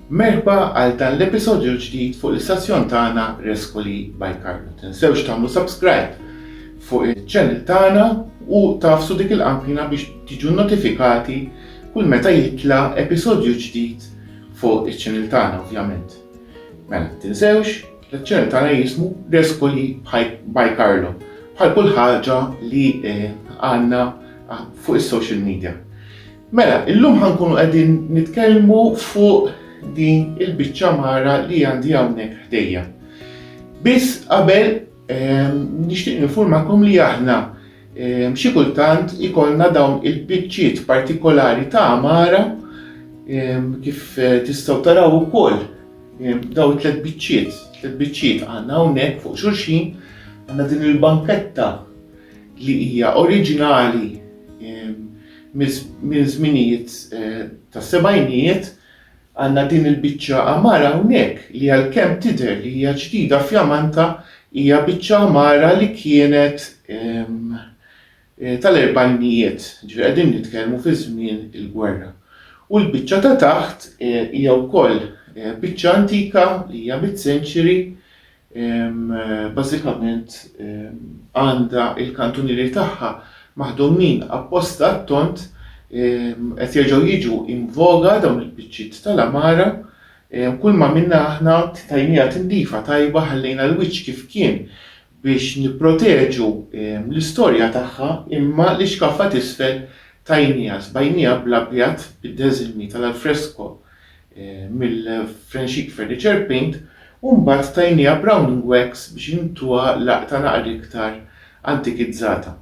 Merħba għal dan l-episodju ġdid fuq l-istazzjon tagħna Rescoli by Carlo. Tinsewx tagħmlu subscribe fuq il-channel tagħna u tafsu dik il-qanqina biex tiġu notifikati kull meta jitla episodju ġdid fuq il-channel tagħna ovvjament. Mela, tinsewx, l-channel tagħna jismu Rescoli by Carlo bħal kull ħaġa li eh, għandna ah, fuq is-social media. Mela, illum ħankunu qegħdin nitkellmu fuq din il-biċċa mara li għandi hawnhekk ħdejja. Biss qabel ehm, nixtieq nifurmakom li aħna ehm, xi kultant ikollna dawn il-biċċiet partikolari ta' mara ehm, kif eh, tistgħu taraw ukoll daw tliet biċċiet, tliet biċċiet għandna hawnhekk fuq xulxin għandna din il-banketta li hija oriġinali Minn żminijiet tas-sebgħinijiet għandna din il-biċċa għamara hawnhekk li għalkemm tidher li hija ġdida fjamanta hija biċċa għamara li kienet tal-erbgħinijiet, jiġifieri qegħdin nitkellmu fi żmien il-gwerra. U l-biċċa ta' taħt hija wkoll biċċa antika li hija mid-century bażikament għandha l-kantunieri tagħha maħdumin apposta għat-tond, qed jerġgħu jiġu invoga dawn il-biċċiet tal-għamara, kull ma minna aħna tajniha tindifa tajba ħallejna l-wiċċ kif kien biex nipproteġu l-istorja tagħha imma l-ixkaffa t'isfel tajniha, sbajniha bl-abjad bid-deżilmi tal-alfresko. mill-Frenxix Furniture Paint u mbagħad tajniha browning wax biex intuha laqta naqra iktar antikizzata.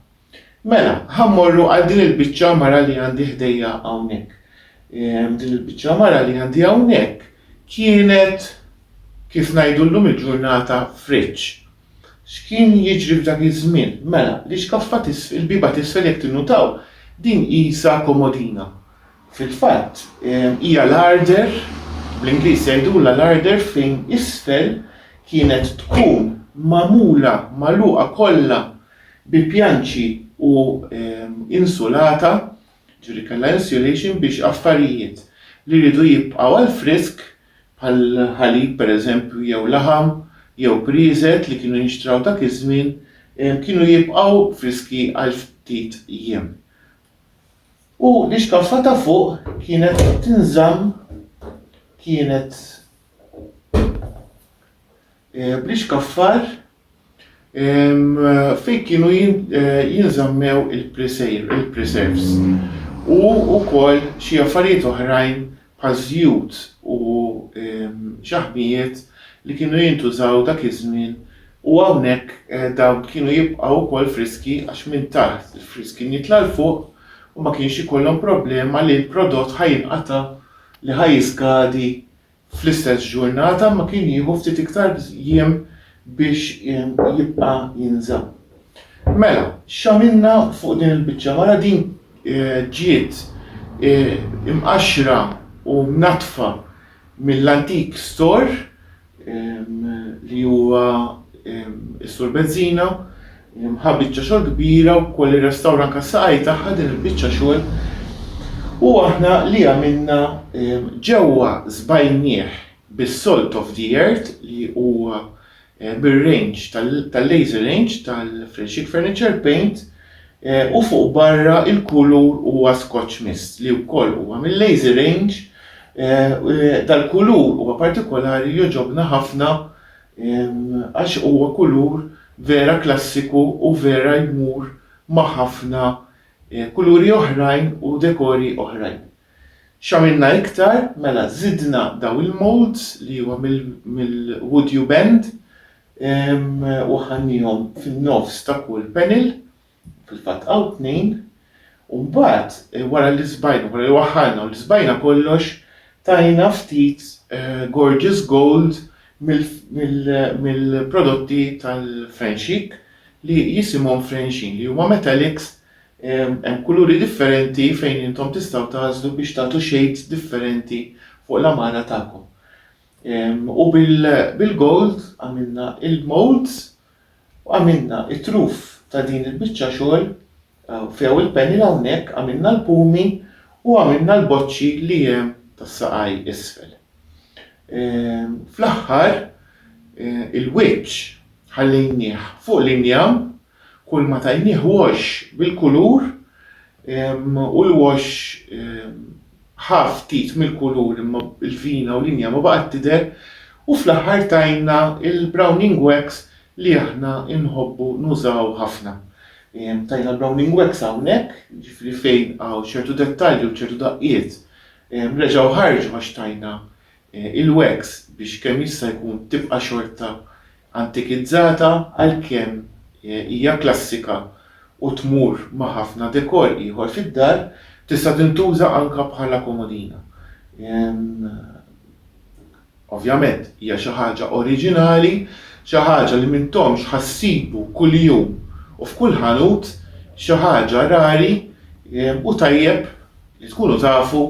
Mela, ħa mmorru għal din il-biċċa mara li għandi ħdejja hawnhekk. Din il-biċċa mara li għandi hawnhekk kienet kif ngħidu llum il-ġurnata friġġ. X'kien jiġri f'dak iż-żmien? Mela, l-iskaffa il-biba t'isfel jekk tinnutaw din qisha komodina. Fil-fatt, hija larder, bl-Ingliż jgħidulha larder fejn isfel kienet tkun magħmula magħluqa kollha bi pjanċi u insulata, jiġifieri kellha insulation biex affarijiet li riedu jibqgħu għall-frisk bħal ħalib pereżempju jew laħam jew prieżet li kienu jinxtraw dak iż-żmien kienu jibqgħu friski għal ftit jiem. U l-ixkaffa ta' fuq kienet tinżamm kienet eh, bl-ixkaffar fejn kienu eh, jinżammew il-preserves u wkoll xi affarijiet oħrajn bħal żjut u xaħmijiet li kienu jintużaw dak iż-żmien u hawnhekk dawn kienu jibqgħu wkoll friski għax minn taħt il-friż kien jitla' 'l fuq u ma kienx ikollhom problema li l-prodott ħa jinqata' li ħa jiskadi fl-istess ġurnata imma kien jieħu ftit iktar jiem biex jibqa' jinżamm. Mela, x'għamilna fuq din il-biċċa? Mara din ġiet imqaxxra u mnaddfa mill-antik stor li huwa s-Sur Bezzina, ħa biċċa xogħol kbira wkoll irrestawra anke s-saqajn tagħha din il-biċċa xogħol. U aħna li għamilna ġewwa żbajnieh bis-salt of the earth li huwa bir-range tal-laser range tal-Freshik Furniture Paint u fuq barra il-kulur huwa Scotch Mist li wkoll huwa mil-laser range dal-kulur huwa partikolari jogħġobna ħafna għax huwa kulur vera klassiku u vera jmur ma' ħafna kuluri oħrajn u dekori oħrajn. X'għamilna iktar? Mela żidna dawn il-moulds li huma mill-wood you bend u ħanniehom fin-nofs ta' kull panel, fil-fatt hawn tnejn, u mbagħad wara li sbajna, wara li waħħalna u li sbajna kollox, tajna ftit gorgeous gold mill-prodotti tal-French Chic li jisimhom French Sheen li huma metallics Hemm kuluri differenti fejn intom tistgħu tagħżlu biex tagħtu shades differenti fuq l-għamara tagħkom. U bil-gold għamilna il-molds u għamilna it-truf ta' din il-biċċa xogħol few il-panel hawnhekk għamilna l-pumi u għamilna l-boċċi li hemm tas-saqaj isfel. Fl-aħħar il-wiċċ ħallejnieh fuq l-injam Kulma tajnieh wash bil-kulur u l-wash ħa ftit mill-kulur imma l-vina u l-inja ma baqgħet tidher u fl-aħħar tajna l-browning wax li aħna nħobbu nużaw ħafna. Tajna l-browning wax hawnhekk, jiġifieri fejn hawn ċertu dettalji u ċertu daqqiet reġgħu ħarġu għax tajna il-wax biex kemm jista' jkun tibqa' xorta antikizzata għalkemm hija klassika u tmur ma' ħafna dekor ieħor fid-dar, tista' tintuża anke bħala komodina. Ovvjament hija xi ħaġa oriġinali, xi ħaġa li m'intomx ħa ssibu kuljum u f'kull ħanut, xi ħaġa rari u tajjeb li tkunu tafu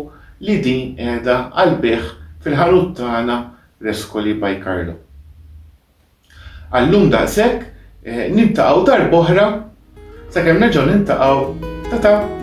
li din qiegħda għall-bejgħ fil-ħanut tagħna Rescoli by Carlo. Għal-lum daqshekk, niltaqgħu darb'oħra sakemm nerġgħu niltaqgħu ta' ta'.